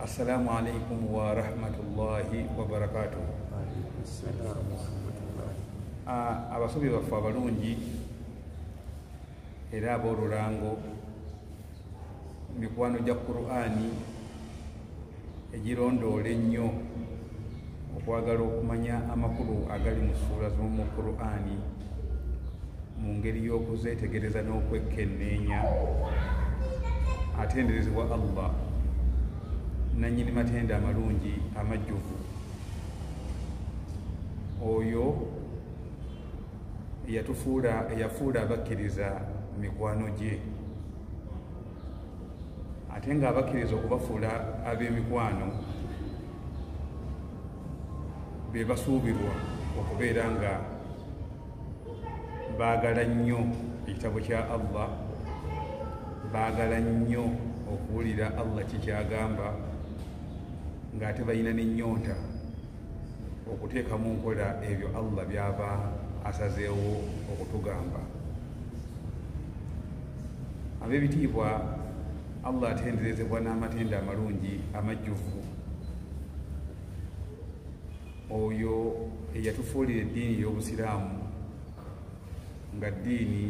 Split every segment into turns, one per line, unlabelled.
assalamu alaikum warahmatullahi wabarakatuh ah, abasobi baffe abalungi era ab'olulango mikwano gya qur'ani egirondoola ennyo okwagala okumanya amakulu agali mu ssuula z'omu qur'ani mu ngeri y'okuzeetegereza n'okwekkenneenya atenderezebwa allah nannyini matenda amalungi amajjuvu oyo eyatufuula eyafuula abakkiriza mikwano gye ate nga abakkiriza okubafuula ab'emikwano be basuubirwa okubeera nga baagala nnyo ekitabo kya allah baagala nnyo okuwulira allah kikyagamba ng'ate balina n'ennyonta okuteeka mu nkola ebyo allah byaba asazeewo okutugamba ab'ebitiibwa allah atenderezebwa n'amatendo amalungi amajjuvu oyo eyatufuulira eddiini y'obusiraamu nga ddiini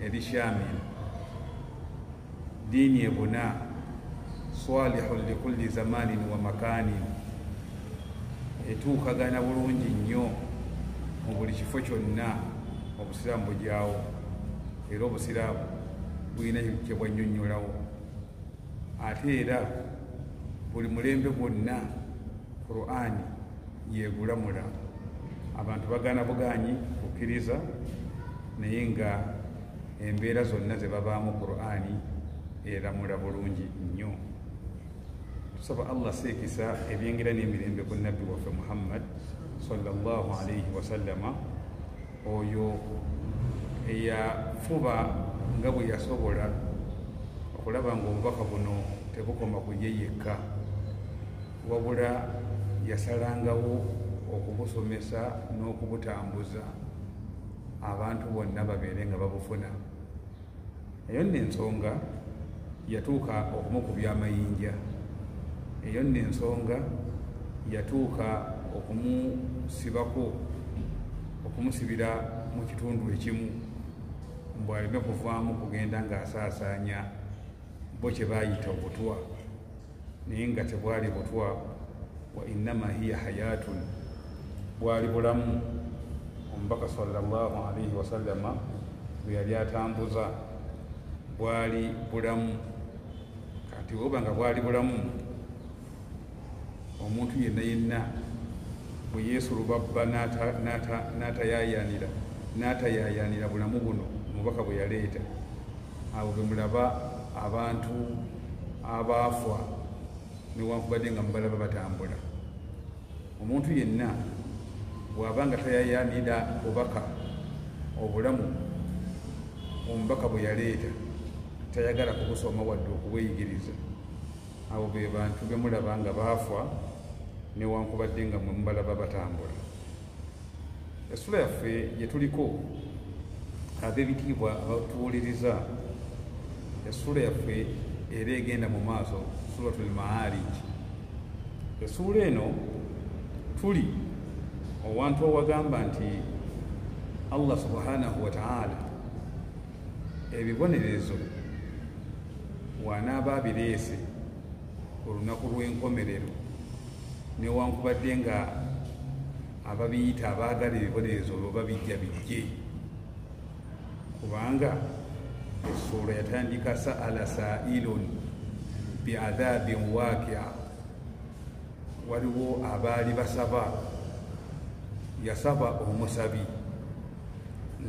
erishamil Ddiini ebuna swalihun likulli zamanin wa makanin, etuukagana bulungi nnyo mu buli kifo kyonna obusiraamu bugyawo era obusiraamu bulina kye bwannyonnyolawo ate era buli mulembe gwonna qurani yegulamula abantu bagana buganyi kukkiriza naye nga embeera zonna ze babaamu qur'ani eramula bulungi nnyo tusaba allah seekisa ebyengera n'emirembe ku nabbi waffe muhammad salllah alaihi wasallama oyo eyafuba nga bwe yasobola okulaba ngaobubaka buno tebukoma ku ye yekka wabula yasalangawo okubusomesa n'okubutambuza abantu bonna babeere nga babufuna eyo nno ensonga yatuuka okumukubya amayinja eyo nno ensonga yatuuka okumusibako okumusibira mu kitundu ekimu mbu aleme kuvaamu kugenda ng'asaasaanya bo kye baayita obutwa naye nga tebwali butwa wa innama hiya hayatun bwali bulamu omubaka salllah alaihi wasallama bwe yali atambuza bwali bulamu kati oba nga bwali bulamu omuntu yenna yenna bwe yeesulubabba n'atayayanira n'atayayanira bulamu buno omubaka bwe yaleeta awo bemulaba abantu abaafwa newankubadde nga mubalaba batambula omuntu yenna bwaba nga tayayanira bubaka obulamu omubaka bwe yaleeta tayagala kubusoma wadde okubweyigiriza abo be bantu bemulaba nga baafwa newankubadde nga mwe mubalaba batambula essula yaffe gye tuliko ab'ebitiibwa abatuwuliriza essuula yaffe era egenda mu maaso suratul maariji essuula eno tuli owantu owagamba nti allah subhanahu wataala ebibonerezo wanaaba abireese olunaku lw'enkomerero newankubadde nga ababiyita abaagala ebibonerezo olwo babijja bijje kubanga essuula yatandika saala sailun biadhabin wakia waliwo abaali basaba yasaba omusabi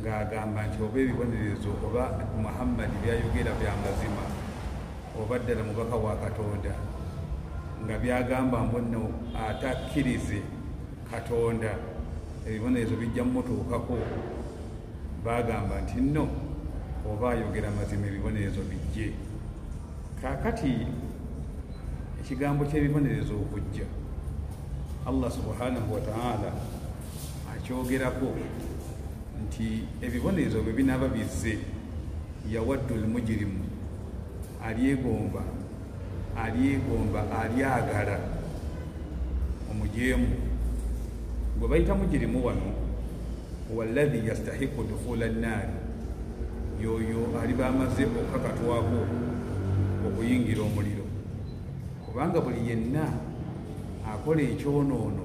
ng'agamba nti oba ebibonerezo oba muhammadi byayogera bya mazima oba ddala mubaka wa katonda nga byagamba mbonno atakkirize katonda ebibonerezo bijja mumutuukako bagamba nti nno oba ayogera mazima ebibonerezo bijje kakati ekigambo ky'ebibonerezo okujja allah subhanahu wataala akyogerako nti ebibonerezo bwe binaaba bizze yawaddu lmujirimu alyegomba alyegomba alyagala omujeemu gwe bayita mujirimu wano waladhi yastahiku dukhula nnaari yoyo aliba amaze okukakatwako okuyingira omuliro kubanga buli yenna akola ekyonoono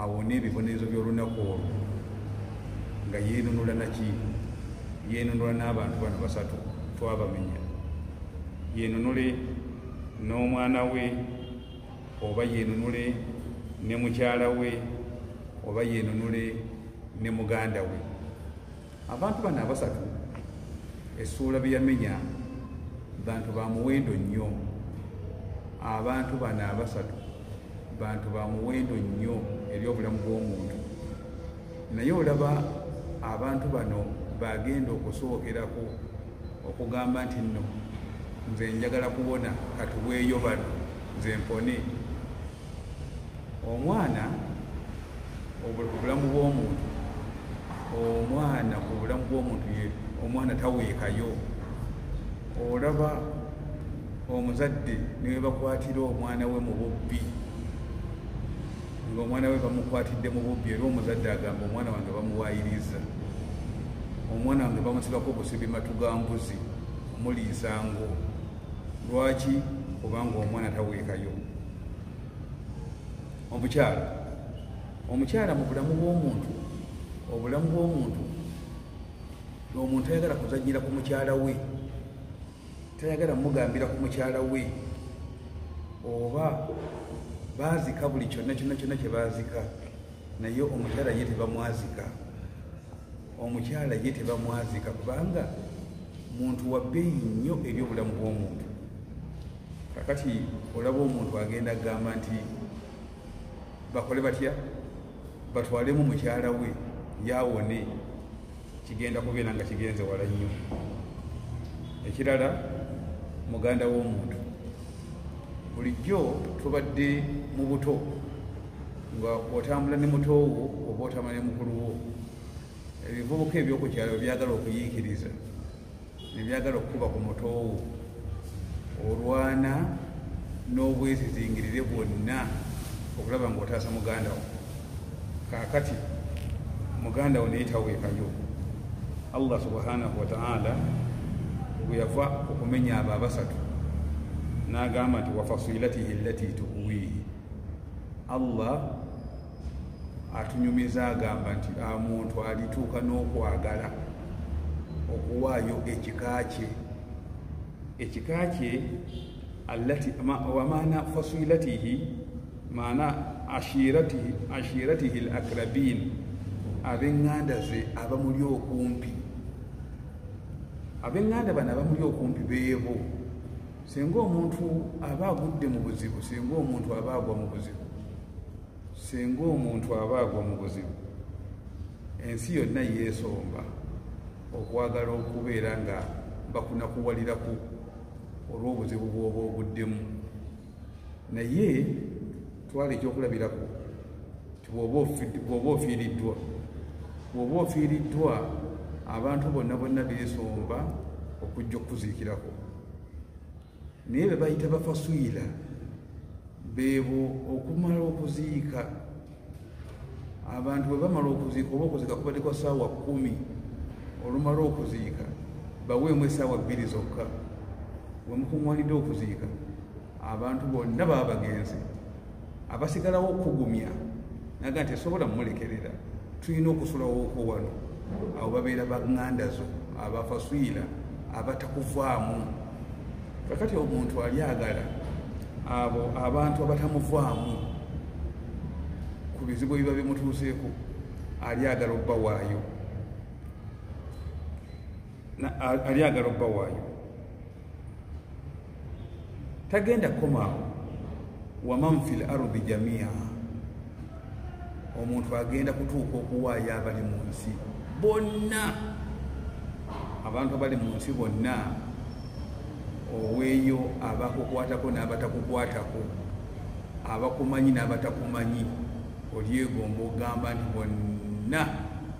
awone ebibonerezo by'olunaku olwo nga yeenunula naki yeenunula n'abantu bano basatu twabamenya yeenunule n'omwana we oba yeenunule ne mukyala we oba yeenunule ne muganda we Abantu bano abasatu essuula bye yamenya bantu ba muwendo nnyo abantu bano abasatu bantu ba muwendo nnyo eri obulamu bw'omuntu naye olaba abantu bano bagenda okusookerako okugamba nti nno nze njagala kuwona katuweeyo bano nze mpone omwana obulamu bw'omuntu omwana ku bulamu bw'omuntu ye omwana taweekayo olaba omuzadde newebakwatira omwana we mu bubbi ngaomwana we bamukwatidde mu bubbi era omuzadde agamba omwana wange bamuwayiriza omwana wange bamusibako obusibi matu ga mbuzi muliisa ngo lwaki kubanga omwana taweekayo omukyala omukyala mu bulamu bw'omuntu obulamu bw'omuntu omuntu ayagala kuzanyira ku mukyala we tayagala mugambira ku mukyala we oba baazika buli kyonna kyonna kyonna kye baazika naye omukyala ye tebamwazika omukyala ye tebamwazika kubanga muntu wabbeeyi nnyo eri obulamu bw'omuntu kakati olaba omuntu agenda kugamba nti bakole batya batwalemu mukyala we yawone kigenda kubeera nga kigenze wala nnyo ekirala muganda w'omuntu bulijjo tubadde mu buto nga otambula ne muto wo oba otambula ne mukulu wo ebivubuka ebyokukyalo byagala okuyiikiriza nebyagala okukuba ku mutoowo olwana n'obwezizingirire bwonna okulaba nga otaasa muganda wo kakati muganda wo naye taweekayo allah subhanahu wataala bweyava okumenya abo abasatu n'agamba nti wafasilatihi lati tuwiihi allah atunyumiza agamba nti a muntu alituuka n'okwagala okuwaayo ekika kye ekika kye wamaana fasilatihi maana ashiratihi lakrabin abenganda ze abamuli okumpi abenganda bano abamuli okumpi beebo singa omuntu aba agudde mu buzibu singa omuntu aba agwa mu buzibu singa omuntu aba agwa mu buzibu ensi yonna yeesomba okwagala okubeera nga bakunakuwaliraku olw'obuzibu bwoba oguddemu naye twala ekyokulabirako bwoba ofiiriddwa bwoba ofiiriddwa abantu bonna bonna beesomba okujja okukuziikirako naye be bayita bafaswila beebo okumala okuziika abantu bwe bamala okuziika oba okuziika kubadde kwa saawa kumi olumala okuziika baweemu esaawa bbiri zokka wemukuŋwanidde okuziika abantu bonna baba bagenzi abasigalawo okugumya naga nti esobola mumulekerera tulina okusulawooko wano abo babeera baganda zo abafaswira abatakuvaamu kakati omuntu alyagala abo abantu abatamuvaamu ku bizibu ebiba bimutuuseeko alyagala obbawaayo ali agala obba waayo tagenda kukomaawo waman fi l ardi jamia omuntu agenda kutuuka okuwaayo abali mu nsi bonna abantu abali mu nsi bonna oweeyo abakukwatako n'abatakukwatako abakumanyi n'abatakumanyi olyegomba ogamba nti bonna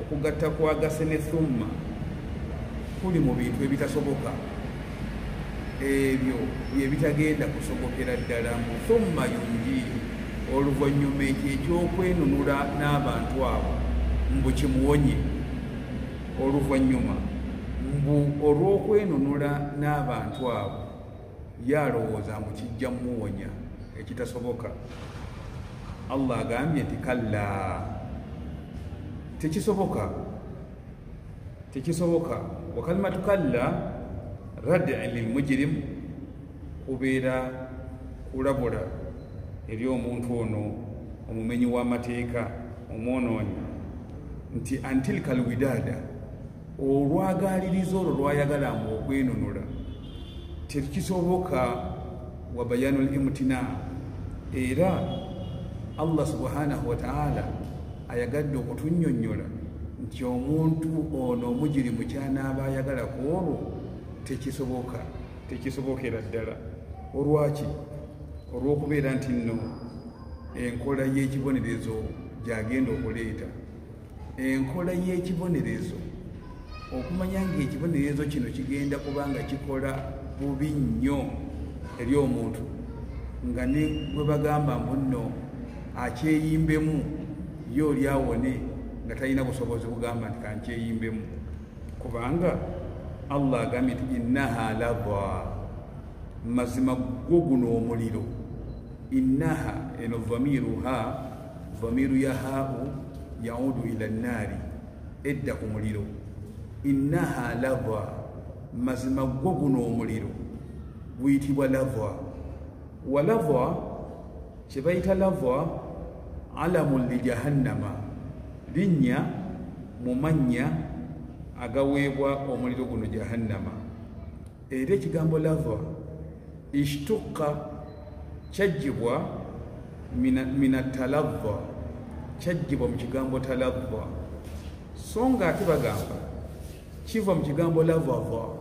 okugatta kwagase ne thumma kuli mu bintu ebitasoboka ebyo byebitagenda kusobokera ddala mu thumma yunjiihi oluvannyuma ekyo ekyokwenunula n'abantu abo mbu kimuwonye oluvannyuma mbu olw'okwenunula n'abantu abo ye alowooza mbu kijja muwonya ekitasoboka allah agambye nti kalla tekisoboka tekisoboka wakalimatu kalla radi lilmujirimu kubeera kulabula eri omuntu ono omumenyi w'amateeka omwonoonyi nti antilka lwidada olwagaaliriza olwo lwayagalanga okwenunula tekisoboka wa bayanu limtina era allah subhanahu wataala ayagadde okutunyonyola nti omuntu ono omugiri mukyanaaba ayagala ku olwo tekisoboka tekisobokera ddala olwaki olwokubeera nti nno enkola y'ekibonerezo gyagenda okuleeta enkola y'ekibonerezo okumanya ng'ekibonerezo kino kigenda kuba nga kikola bubi nnyo eri omuntu nga ne bwe bagamba mbu nno akyeyimbemu ye oli awone nga talina busobozi bugamba nti kankyeyimbemu kubanga allah agambye nti innaha lava mazima gwo guno omuliro innaha eno vamiruha dhamiru ya hau yaudu ila nnaari edda ku muliro innaha lava mazima gwo guno omuliro guyitibwa lava wa lava kye bayita lava alamu li jahannama linnya mu mannya agaweebwa omuliro guno jahannama era ekigambo lava ishtuqa kyajjibwa minatalava kyajjibwa mu kigambo talava so nga ate bagamba kiva mu kigambo lavava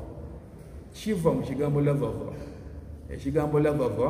kiva mu kigambo lavava ekigambo lavava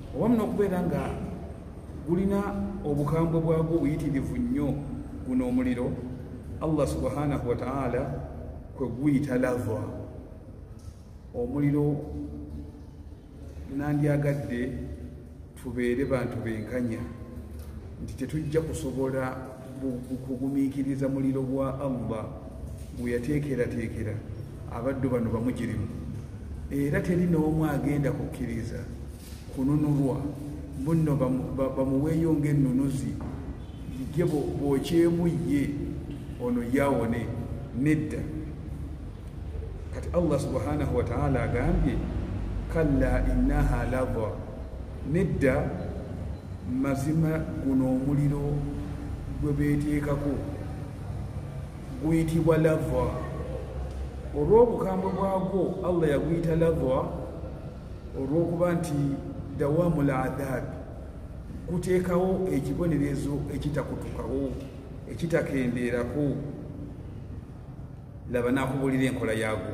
owamu n'okubeera nga gulina obukambwe bwagwo obuyitirivu nnyo guno omuliro allah subhanahu wataala kwe guyita lava omuliro nandyagadde tubeere bantu benkanya nti tetujja kusobola kugumiikiriza muliro gwa allah gweyateekerateekera abaddu bano bamugirimu era teri n'omu agenda kukkiriza kununulwa bunno bamuweeyo ng'ennunuzi ye bwokyemu ye ono yawone nedda kati allah subhanahu wataala agambye kalla innaha lava Nedda, mazima guno omuliro gwe beeteekako guyitibwa lava olw'obukambwe bwagwo allah yaguyita lava olw'okuba nti dawaamu ladhaabi guteekawo ekibonerezo ekitakutukawo ekitakendeerako laba nakubuulira enkola yaagwo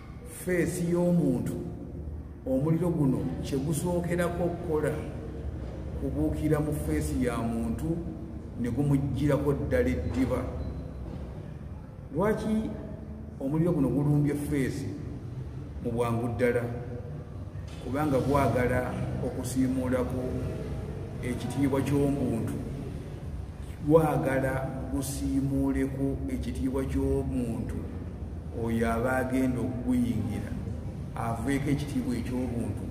feesi y'omuntu omuliro guno kye gusookerako okukola kubuukira mu feesi ya muntu ne gumuggyirako ddala eddiba lwaki omuliro guno gulumbye feesi mu bwangu ddala kubanga bwagala okusiimuulako ekitiibwa ky'omuntu bwagala gusiimuuleko ekitiibwa ky'omuntu oyo aba agenda okuguyingira aveeko ekitiibwa eky'obuntu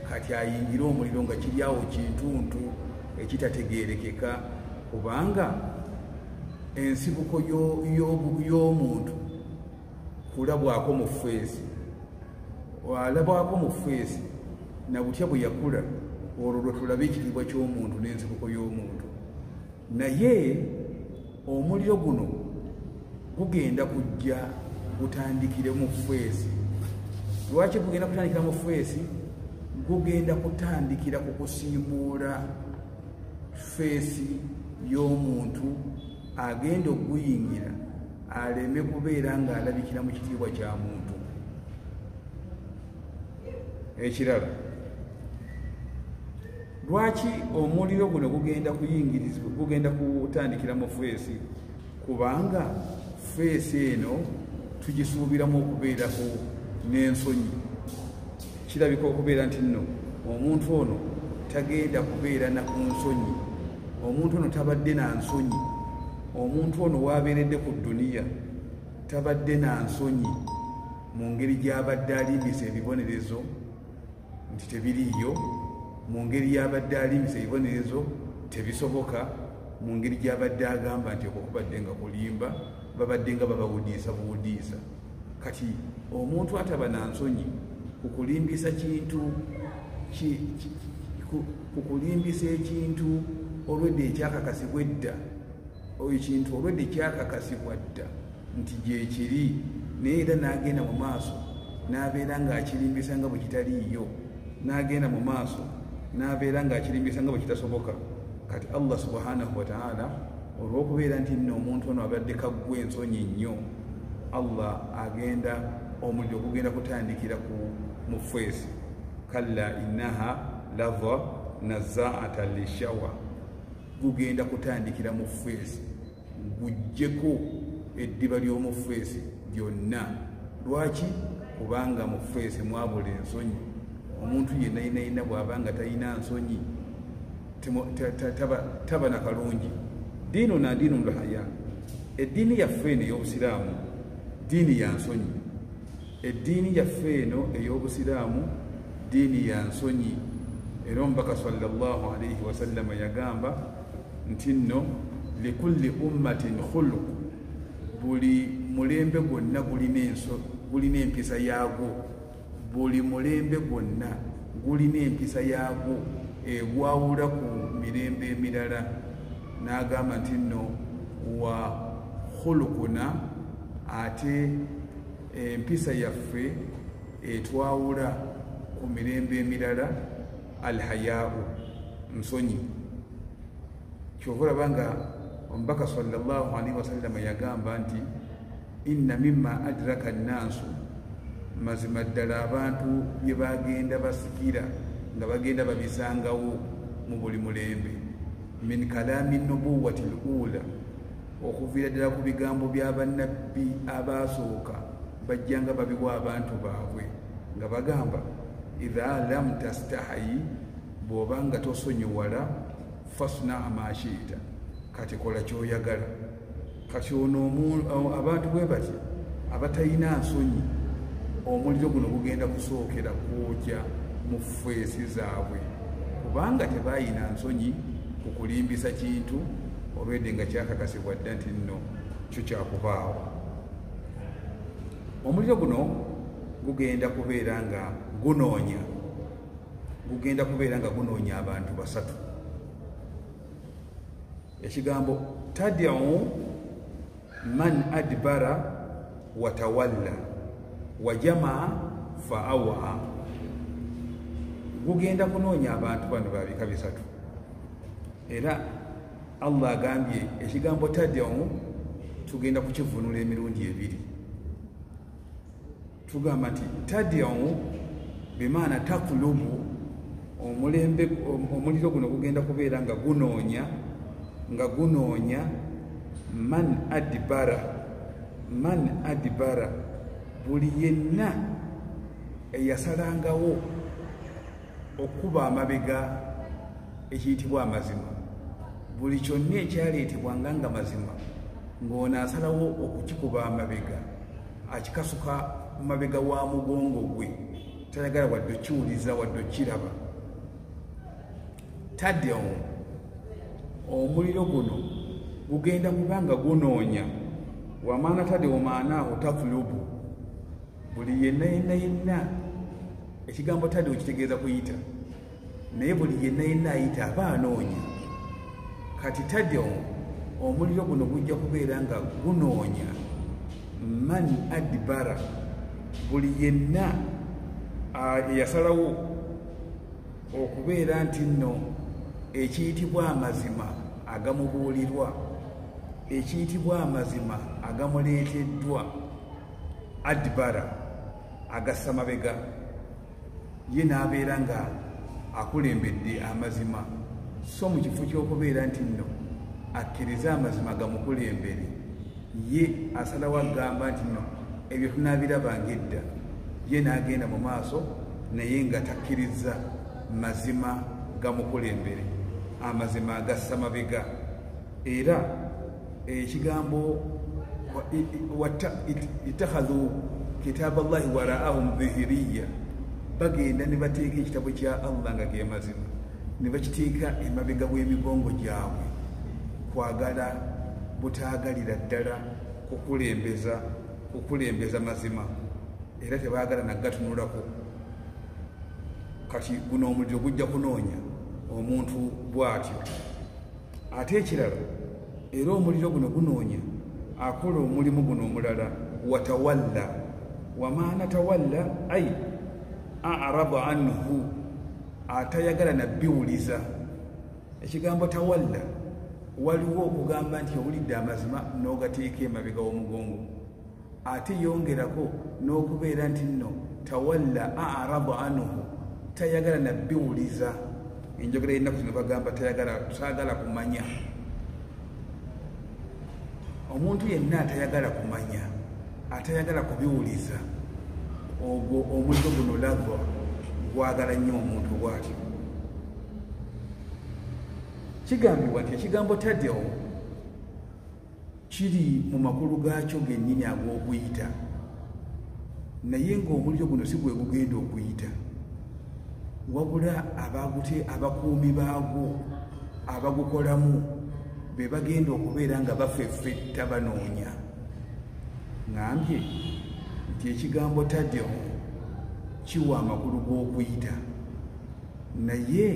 kati ayingire omuliro nga kiri awo kintuntu ekitategeerekeka kubanga ensibuko y'omuntu kulabwako mu feesi alabwako mu feesi na butya bwe yakula olwo lwe tulaba ekitiibwa ky'omuntu n'ensibuko y'omuntu naye omuliro guno gugenda kujja gutandikire mu feesi lwaki gugenda kutandikira mu feesi gugenda kutandikira ku kusiimuula feesi y'omuntu agenda okuguyingira aleme kubeera ng'alabikira mu kitiibwa kya muntu ekirala lwaki omuliro guno gugenda kuyingirizibwa gugenda kutandikira mu feesi kubanga feesi eno tugisuubiramu okubeerako n'ensonyi Kirabika okubeera nti nno omuntu ono tagenda kubeera na ku nsonyi, omuntu ono tabadde na nsonyi, omuntu ono waabeeredde ku duniya tabadde na nsonyi mu ngeri gy'abadde alimbisa ebibonerezo nti tebiriiyo, mu ngeri y'abadde alimbisa ebibonerezo tebisoboka, mu ngeri gy'abadde agamba nti okwo kubadde nga kulimba, babadde nga babawudiisa buwudiisa. kati omuntu ataba na nsonyi kukulimbisa kintu kukulimbisa ekintu olwedde ekyakakasibwa edda oyo kintu olwedde kyakakasibwa dda nti gyekiri naye era n'agenda mu maaso n'abeera ng'akirimbisa nga bwe kitaliiyo n'agenda mu maaso n'abeera ng'akirimbisa nga bwe kitasoboka kati allah subhanahu wataala olw'okubeera nti nno omuntu ono abadde kaggwa ensonyi nnyo allah agenda omuliro ogugenda kutandikira ku mufeesi kalla innaha lava nazaata lishawa gugenda kutandikira mu feesi gujjeko eddiba ly'omu feesi lyonna lwaki kubanga mu feesi mwabula ensonyi omuntu yenna yenna yenna bw'aba nga talina nsonyi taba na kalungi diinu na diinu lhaya eddiini yaffe eno ey'obusiraamu diini ya nsonyi eddiini yaffe eno ey'obusiraamu diini ya nsonyi era omubaka salllah alaihi wasallama yagamba nti nno likulli ummatin khuluq buli mulembe gwonna gulina empisa yaagwo buli mulembe gwonna gulina empisa yaagwo egwawula ku mirembe emirala n'agamba nti nno wa khulukuna ate empisa yaffe etwawula ku mirembe emirala alhayaau nsonyi kyova olaba nga omubaka salllah alaihi wasallama yagamba nti inna mima adraka nnansu mazima ddala abantu bye bagenda basikira nga bagenda babisangawo mu buli mulembe min kalaami nubuwati luula okuviira ddala ku bigambo bya bannabbi abaasooka bajjanga babiwa abantu baabwe nga bagamba idha lam tastahayi bw'oba nga tosonyiwala fasna amashiita kati kola kyoyagala kati ono abantu bwe bati abatalina nsonyi omuliro guno gugenda kusookera kwokya mu feesi zaabwe kubanga tebayina nsonyi ku kulimbisa kintu olwedde nga kyakakasibwa dda nti nno kyo kyakubaawo omuliro guno gugenda kubeera nga gunoonya gugenda kubeera nga gunoonya abantu basatu ekigambo tadiu man adbara watawalla wajamaa faawaha gugenda kunoonya abantu bano babika bisatu era allah agambye ekigambo tadiu tugenda kukivunula emirundi ebiri tugamba nti tadiamu bimaana takulubu omulembe omuliro guno gugenda kubeera nga gunoonya nga gunoonya man adibara man adibara buli yenna eyasalangawo okukuba amabega ekiyitibwa amazima buli kyonna ekyaleetebwa nga nga mazima ng'ono asalawo okukikuba amabega akikasuka mabega wa mugongo gwe tayagala wadde okiwuliza wadde okiraba tadde omu omuliro guno gugenda kuba nga gunoonya wamaana tadde omaanaaho tatulubu buli yenna yenna yenna ekigambo tadi okitegeeza kuyita naye buli yenna yenna ayita aba anoonya kati tadi omuliro guno gujja kubeera nga gunoonya man adibara buli yenna eyasalawo okubeera nti nno ekiyitibwa amazima agamubuulirwa ekiyitibwa amazima agamuleeteddwa adibara agassa mabega ye n'abeera nga akulembedde amazima so mu kifo ky'okubeera nti nno akkirize amazima gamukulembere ye asalawo agamba nti nno ebyo tunaabirabanga edda ye n'agenda mu maaso naye nga takkirizza mazima gamukulembere amazima agassa mabega era eh, ekigambo itakhadhu kitaaba llahi waraahum dhihiriya bagenda ne bateeka ekitabo kya allah nga gemazima ne bakiteeka emabega bw'emigongo gyabwe kwagala butaagalira ddala kukulembeza kukulembeza mazima era tebaagala nagatunulako kati guno omuliro gujja kunoonya omuntu bw'atyo ate ekirala era omuliro guno gunoonya akola omulimu guno omulala watawalla wamaana tawalla ai araba anhu atayagala nabiwuliza ekigambo tawalla waliwo okugamba nti owulidde amazima n'ogateeka emabega w'omugongo ate yongerako n'okubeera nti nno tawalla arabu anuhu tayagala nabiwuliza enjogera yennaku zino bagamba tayagala kumanya omuntu yenna atayagala kumanya atayagala kubiwuliza ogwo omuliro guno lava gwagala nnyo omuntu bwatyo kigambibwa nti ekigambo tadeo kiri mu makulu gaakyo gennyini ag'okuyita naye ng'omuliro guno si gwe gugenda okuyita wabula abagute abakuumi baagwo abagukolamu be bagenda okubeera nga bafeffetta banoonya ngambye nti ekigambo tadeo kiwa amakulu g'okuyita naye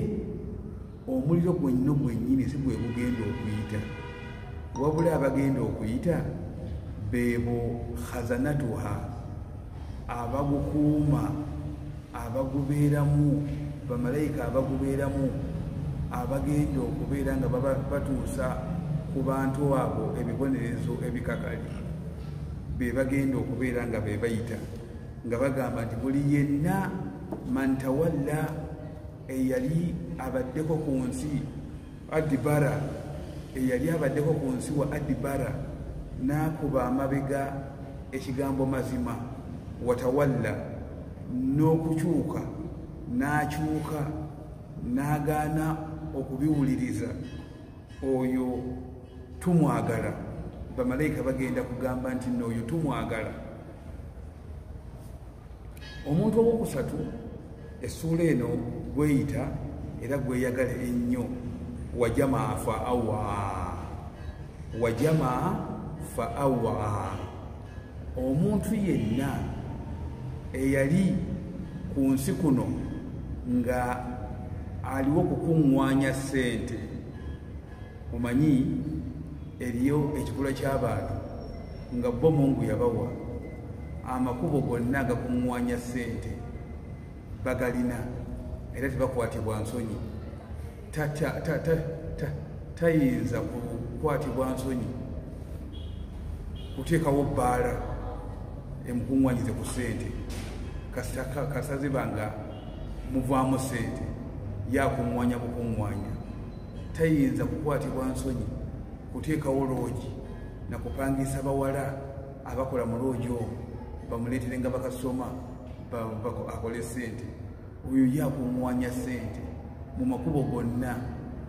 omuliro gwenno gwennyini si gwe gugenda okuyita wabula abagenda okuyita beebo khazanatuha abagukuuma abagubeeramu bamalayika abagubeeramu abagenda okubeera nga batuusa ku bantu abo ebibonerezo ebikakali be bagenda okubeera nga be bayita nga bagamba nti buli yenna mantawalla eyali abaddeko ku nsi adibara eyali abaddeko ku nsi wa adibara n'akuba amabega ekigambo mazima watawalla n'okukyuka n'akyuka n'agaana okubiwuliriza oyo tumwagala bamalayika bagenda kugamba nti nooyo tumwagala omuntu owokusatu essuula eno gweyita era gweyagala ennyo wajamaa fa awa wajamaa fa awa omuntu yenna eyali ku nsi kuno nga aliwo kukuŋŋwanya ssente omanyi eriyo ekikula ky'abantu nga bo mungu yabawa amakubo gonna agakuŋŋwanya ssente bagalina era tebakwatibwa nsonyi tayinza kukwatibwa nsonyi kuteekawo bbaala emukuŋŋwanyize ku ssente kasaziba nga muvaamu ssente yakuŋŋwanya bukuŋŋwanya tayinza kukwatibwa nsonyi kuteekawo loogi na kupangisa bawala abakola mu loogi omu bamuleetere nga bakasoma akole sente oyo ye akunwanya sente mu makubo gonna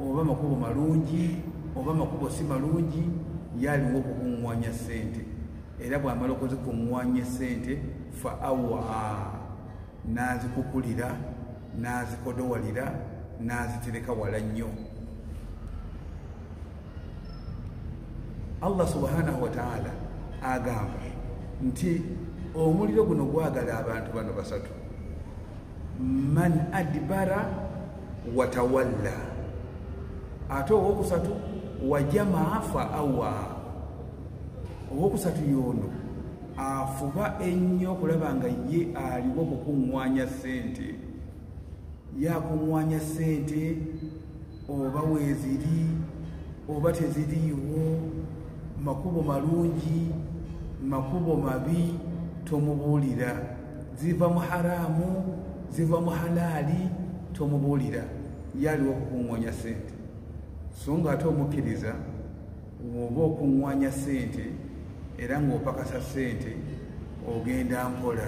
oba makubo malungi oba makubo si malungi yaliwo okukunwanya sente era bwamala okuzikuŋwanya esente fa awa nazikukulira n'azikodowalira n'azitereka wala nnyo allah subhanahu wataala agamba nti omuliro guno gwagala abantu bano basatu man adbara watawalla ate owokusatu wajamaa fa awa owokusatu yoono afuba ennyo okulaba nga ye aliwo kukuŋŋwanya ssente yakuŋŋwanya ssente oba weeziri oba teziriiwo makubo malungi makubo mabi tomubuulira ziva mu haraamu ziva mu halaali tomubuulira yaaliwo okukuŋŋonya ssente so nga ate omukkiriza Woba okunwanya sente era ng'opakasa sente ogenda mpola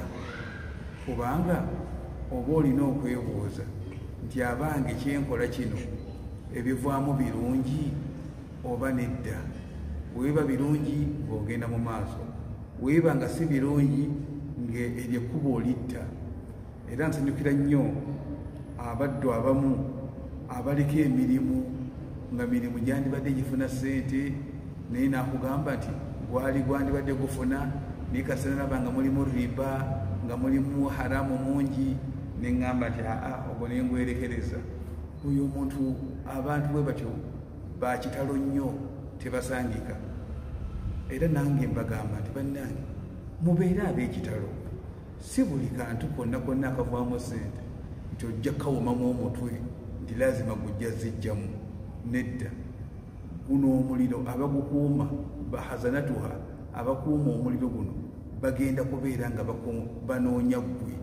kubanga oba olina okwebuuza nti abange kyenkola kino ebivaamu birungi oba nedda weeba birungi ng'ogenda mu maaso weeba nga si birungi ng'eryekkuba olitta era nsanyukira nnyo abaddu abamu abaliko emirimu nga mirimu gyandibadde gifuna sente naye nakugamba nti gwali gwandibadde gufuna naye kasana naba nga mulimu riba nga mulimu haramu mungi neŋamba nti aa ogwo naye ngwerekereza oyo omuntu abantu bwe batyo bakitalo nnyo tebasangika era nange mbagamba nti bannange mubeere ab'ekitalo si buli kantu konna konna akavaamu sente nti ojja kawomamu omutwe nti lazima gujja zijjamu nedda guno omuliro abagukuuma bahazanatuha abakuuma omuliro guno bagenda kubeera nga banoonya ggwe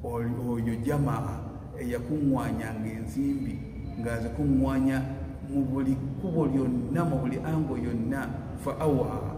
oyo jamaa eyakuŋŋwanyanga ensimbi ng'azikuŋŋwanya mu buli kkubo lyonna mu buli ango yonna fa awa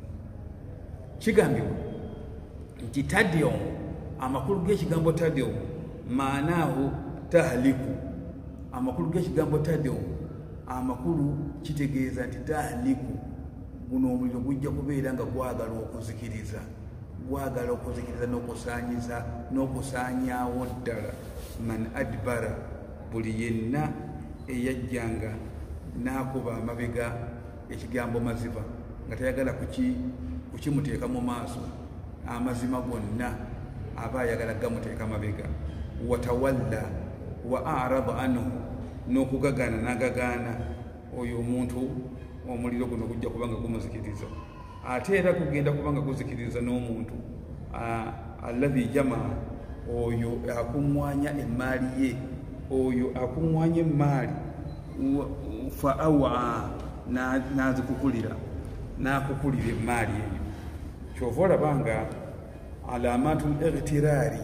kigambibwa nti tadium amakulu g'ekigambo tadium maanaahu tahliku amakulu g'ekigambo tadium amakulu kitegeeza nti tahliku guno omuliro gujja kubeera nga gwagala okuzikiriza gwagala okuzikiriza n'okusaanyiza n'okusaanyaawo ddala man adbara buli yenna eyajjanga n'akuba amabega ekigambo maziva nga tayagala kukimuteeka mu maaso amazima gonna aba ayagala gamuteeka mabega watawalla wa araba anhu n'okugagaana nagagaana oyo omuntu omuliro guno gujja kubanga gumuzikiriza ate era gugenda kuba nga guzikiriza n'omuntu alladhi jamaa oyo akuŋŋwanya emmaali ye oyo akuŋŋwanya emmaali fa awa n'azikukulira n'akukulira emmaali eyo kyova olaba nga alamaatu lightiraari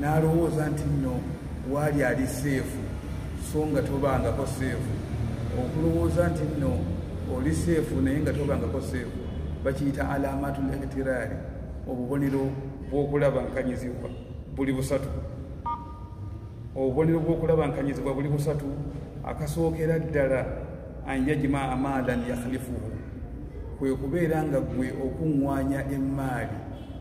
n'alowooza nti nno waali ali seefu so nga tobangako seefu okulowooza nti nno oli seefu naye nga tobangako seefu bakiyita alamatu lekitiraali obubonero bw'okulaba nkanyizibwa buli busatu obubonero bw'okulaba nkanyizibwa buli busatu akasookera ddala an yajima amaalan yakhlifuhu kwe kubeera nga ggwe okuŋŋwanya emmaali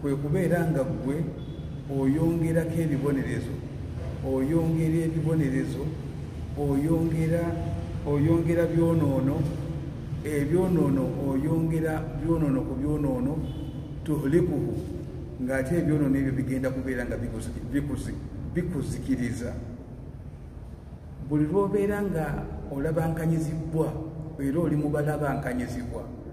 kwe kubeera nga ggwe oyongerako ebibonerezo oyongera ebibonerezo oyongera oyongera byonoono ebyonoono oyongera byonoono ku byonoono tuhlikuhu ng'ate ebyonoono ebyo bigenda kubeera nga bikuzikiriza buli lwobeera nga olabankanyizibbwa era oli mubalabankanyizibwa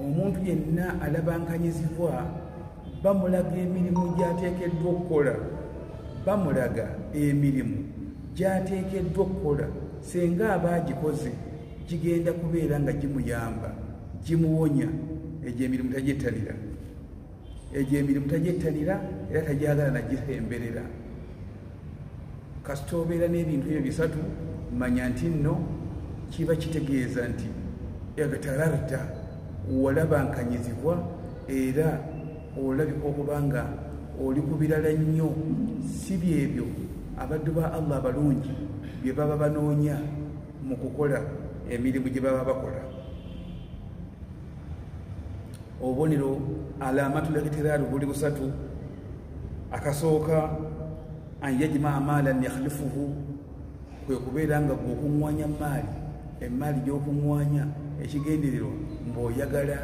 omuntu yenna alabankanyizibwa bamulaga emirimu gyateekeddwa okukola bamulaga emirimu gyateekeddwa okukola senga aba agikoze gigenda kubeera nga gimuyamba gimuwonya egyo emirimu tagyettanira egyo emirimu tagyettanira era tagyagala nagisemberera kasita obeera n'ebintu ebyo bisatu manya nti nno kiba kitegeeza nti egtalarta walabankanyizibwa era olabika okuba nga oli ku birala nnyo si byebyo abaddu ba allah abalungi bye baba banoonya mu kukola emirimu gye baba bakola obubonero alamatu ligitirari buli busatu akasooka an yajima amaalan yakhlifuhu kwe kubeera nga gweokuŋwanya maali emaali gyokuŋwanya ekigendererwa ngaoyagala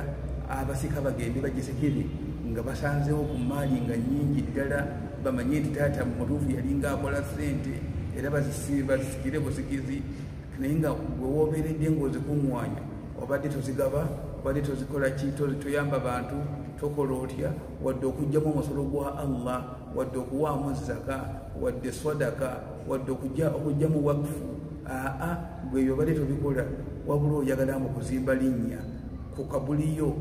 abasika bagende bagisekere nga basanzewo ku maali nga nyingi ddala bamanye nti taata mutuufu yali nga akola sente era bazisikire busikizi naye nga gwewobeeredde ngaozikuŋwanya obadde tozigaba obadde tozikola ki toyamba bantu tokola otya wadde okugjamu omusolo gwa allah wadde okuwaamu zaka wadde sadaka wadde okugjamu wakfu aa gweyo obadde tobikola wabula oyagala mu kuzimba linnya ku kabuliyo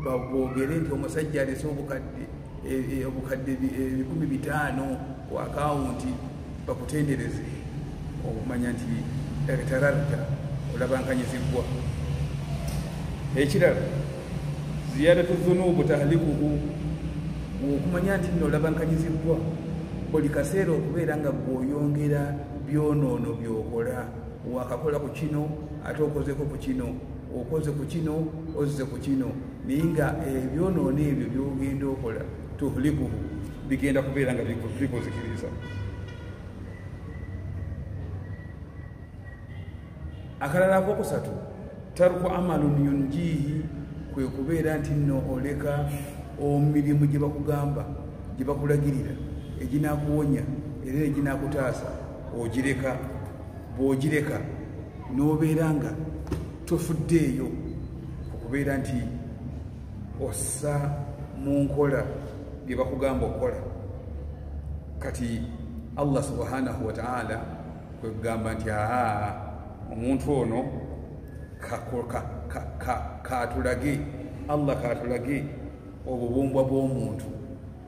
babogere nti omusajja alese obukadde e, e, obukadde ebikumi bitaano ku akawunti bakutendereze okumanya nti eretararta olabankanyizibbwa ekirala ziyadatu zunubu tahlikuhu okumanya nti nno olabankanyizibbwa buli kaseera okubeera nga gweoyongera byonoono byokola wakakola ku kino ate okozeko ku kino okoze ku kino ozze ku kino naye nga ebyonoona eh, ebyo byogenda okola tuhlikuhu bigenda kubeera nga bikuzikiriza akalala akokusatu tarku amalun yunjihi kwe kubeera nti nno oleka omirimu gye bakugamba gye bakulagirira eginakuwonya era eginakutaasa ogireka bwogireka n'obeera nga tofuddeeyo okubeera nti ossa mu nkola bye bakugamba okukola kati allah subhanahu wataala kwekugamba nti aa omuntu ono katulage allah katulage obubumbwa bw'omuntu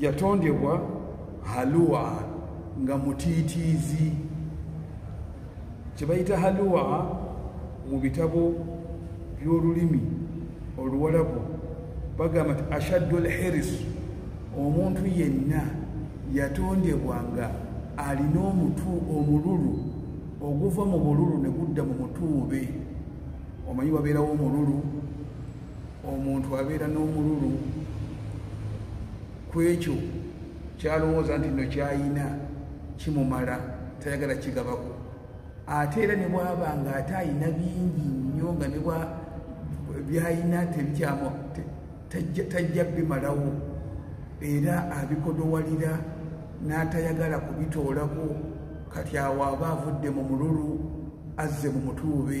yatondebwa haluwa nga mutiitiizi kyebayita haluwa mu bitabo by'olulimi oluwalabu bagamba nti ashaddu lhiris omuntu yenna yatondebwa nga alina omutu omululu oguva mu bululu ne gudda mu mutuube omanyi wabeerawo omululu omuntu abeera n'omululu ku ekyo kyalowooza nti no kyayina kimumala tayagala kigabako ate era ne bwaba nga ate ayina bingi nnyo nga ne bwa byayina tebikyamu tajja bimalawo era abikodowalira n'atayagala kubitoolako kati awo aba avudde mu mululu azze mu mutuube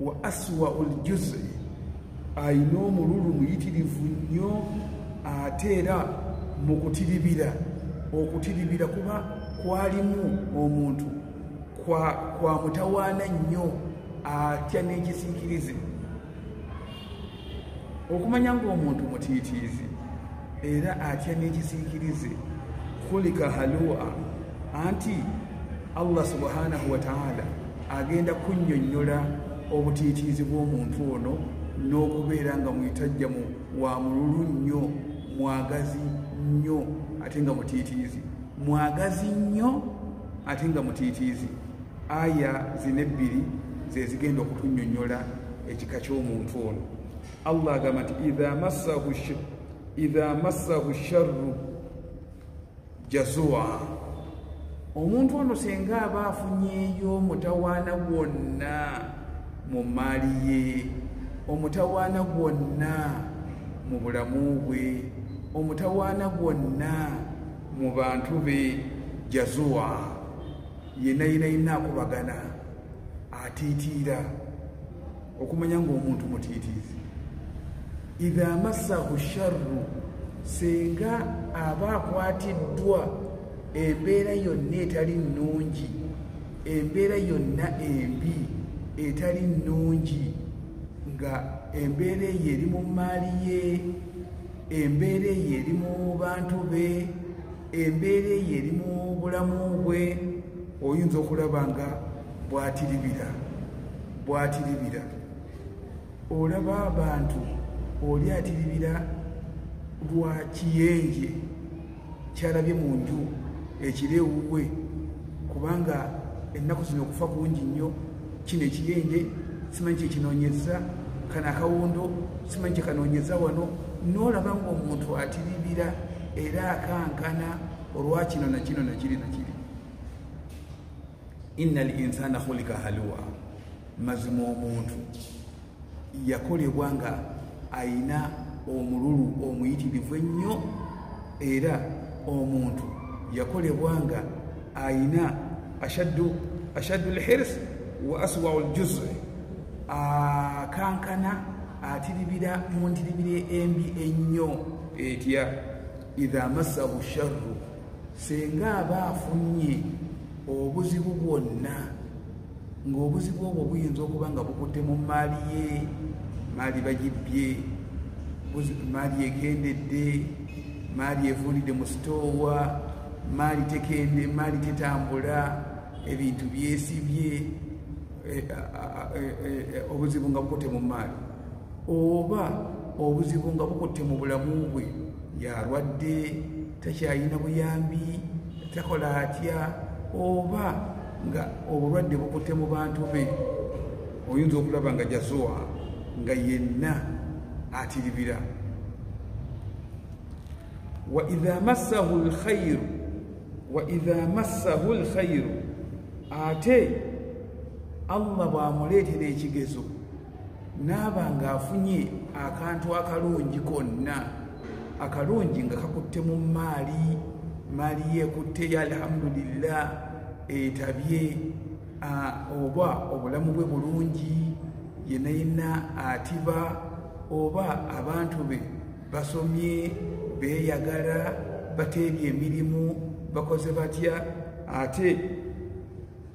wa aswa oljuzi alina omululu muyitirivu nnyo ate era mu kutiribira okutiribira kuba kwalimu omuntu kwa mutawaana nnyo atya n'ekisiikirize okumanya ng'omuntu mutiitiizi era atya n'ekisiikirize kulika halua anti allah subhanahu wataala agenda kunnyonnyola obutiitiizi bw'omuntu ono n'okubeera nga mwitajjamu wa mululu nnyo mwagazi nnyo ate nga mutiitiizi mwagazi nnyo ate nga mutiitiizi aya zino ebbiri zezigenda okutunyonyola ekika ky'omuntu ono allah agamba nti idha massahu sharru jazua omuntu ono senga aba afunyeyo omutawaana gwonna mu mmaali ye omutawaana gwonna mu bulamu bwe omutawaana gwonna mu bantu be jazua yena yena yina akubagana atiitiira okumanya ngaomuntu mutiitiizi idha massahu sharru singa aba akwatiddwa embeera yonna etali nnungi embeera yonna embi etali nnungi nga embeera eyo eri mu mmaali ye embeera eyo eri mu bantu be embeera eyo eri mu bulamu bwe oyinza okulaba nga bwatiribira bwatiribira olaba abantu oli atiribira lwa kiyenje kyalabye mu nju ekiro ewuwe kubanga ennaku zino okufa kungi nnyo kino ekiyenje simanyi kyekinoonyeza kano akawundo simanyi kyekanoonyeza wano noolaba ngaomuntu atiribira era akankana olwa kino na kino nakiri nakiri inna al insana khulika haluwa mazima omuntu yakolebwa nga ayina omululu omuyitirivu ennyo era omuntu yakolebwa nga ayina ashaddu ashaddu lhirs wa aswau ljuzi akankana atiribira mu ntiribira embi ennyo etya idha masahu sharru senga aba afunye obuzibu bwonna ng'obuzibu obwo buyinza okuba nga bukutte mu maali ye maali bagibbye maali ekendedde maali
evundidde mu sitoowa maali tekende maali tetambula ebintu byesibye eh, eh, eh, obuzibu nga bukutte mu maali oba obuzibu nga bukutte mu bulamu bwe yalwadde takyalina buyambi takola atya oba nga obulwadde bukutte mu bantu be oyinza okulaba nga jazuwa nga yenna atiribira waidha massahu lkhairu waidha massahu lkhairu ate allah bwamuleetera ekigezo naaba ng'afunye akantu akalungi konna akalungi nga kakutte mu maali maali yeekutte ya alhamdulillah etabye oba obulamu bwe bulungi yena yena atiba oba abantu be basomye beeyagala bateebye emirimu bakoze batya ate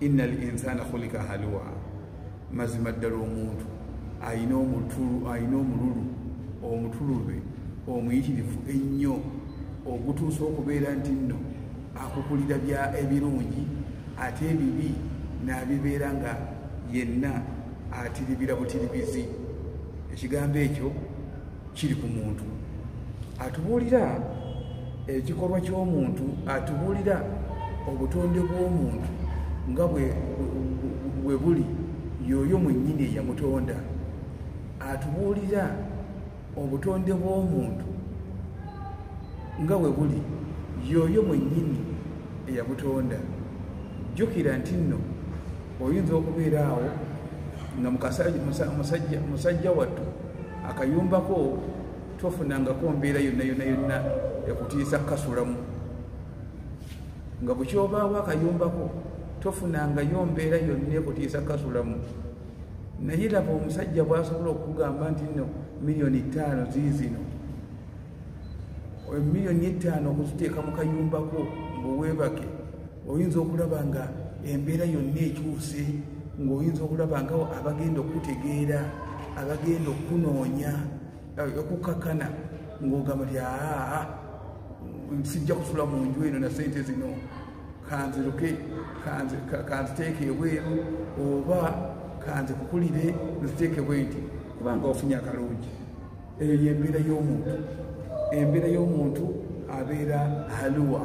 inna al insana khulika halwa mazima ddala omuntu alina omutulu alina omululu omutulube omuyitirivu ennyo ogutuusa okubeera nti nno akukulira bya ebirungi ate ebibi n'abibeera nga yenna atiribira butiribizi ekigambo ekyo kiri ku muntu atubuulira ekikolwa ky'omuntu atubuulira obutonde bw'omuntu nga bwe buli yooyo mwennyini eyamutonda atubuulira obutonde bw'omuntu nga bwe buli yooyo mwennyini eyabutonda jjukira nti nno oyinza okubeera awo nga musajja wattu akayumbako tofunangako mbeera yonna yonna yonna ekutiisa kukasulamu nga bukyobaawo akayumbako tofunangayo mbeera yonna ekutiisa kukasulamu naye laba omusajja bwasobola okukugamba nti no miliyoni ttaano ziizino miliyoni ettaano okuziteeka mu kayumbako mbuweebake oyinza okulaba nga embeera yonna ekyuse ng'oyinza okulaba nga abagenda okutegeera abagenda okunoonya eh, okukakana ng'ogamba ti aa sijja kusula mu nju eno na sente zino kanziruke kanziteeke ebweru oba kanzikukulire nziteeke bwe nti kubanga ofunye akalungi eyo yembeera y'omuntu embeera y'omuntu abeera haluwa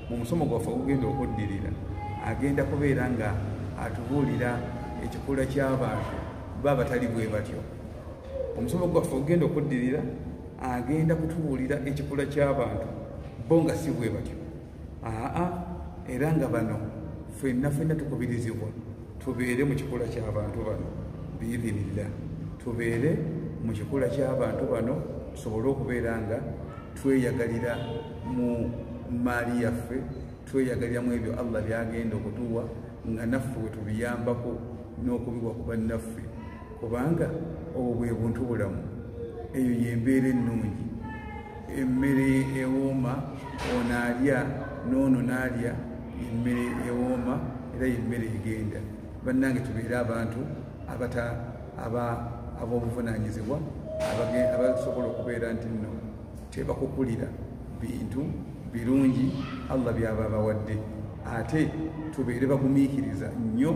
mu musomo gwaffe ogugenda okuddirira agenda kubeera nga atubuulira ekikula ky'abantu ba batali bwe batyo omusomo gwaffe ogugenda okuddirira agenda kutubuulira ekikula ky'abantu bo nga si bwe batyo aa era nga bano fenna fenna tukubirizibwa tubeere mu kikula ky'abantu bano biidhinillah tubeere mu kikula ky'abantu bano tusobole okubeera nga tweyagalira mu maali yaffe tweyagalira mu ebyo allah byagenda okutuwa nga naffe wetubiyambako n'okubiwa ku bannaffe kubanga obwo bwe buntu bulamu eyo yembeera ennungi emmere ewooma ono alya noono n'alya emmere ewooma era yemmere egenda bannange tubeere abantu abata aba ab'obuvunanyizibwa abasobola okubeera nti nno tebakukulira bintu birungi allah byaba bawadde ate tubeere bagumiikiriza nnyo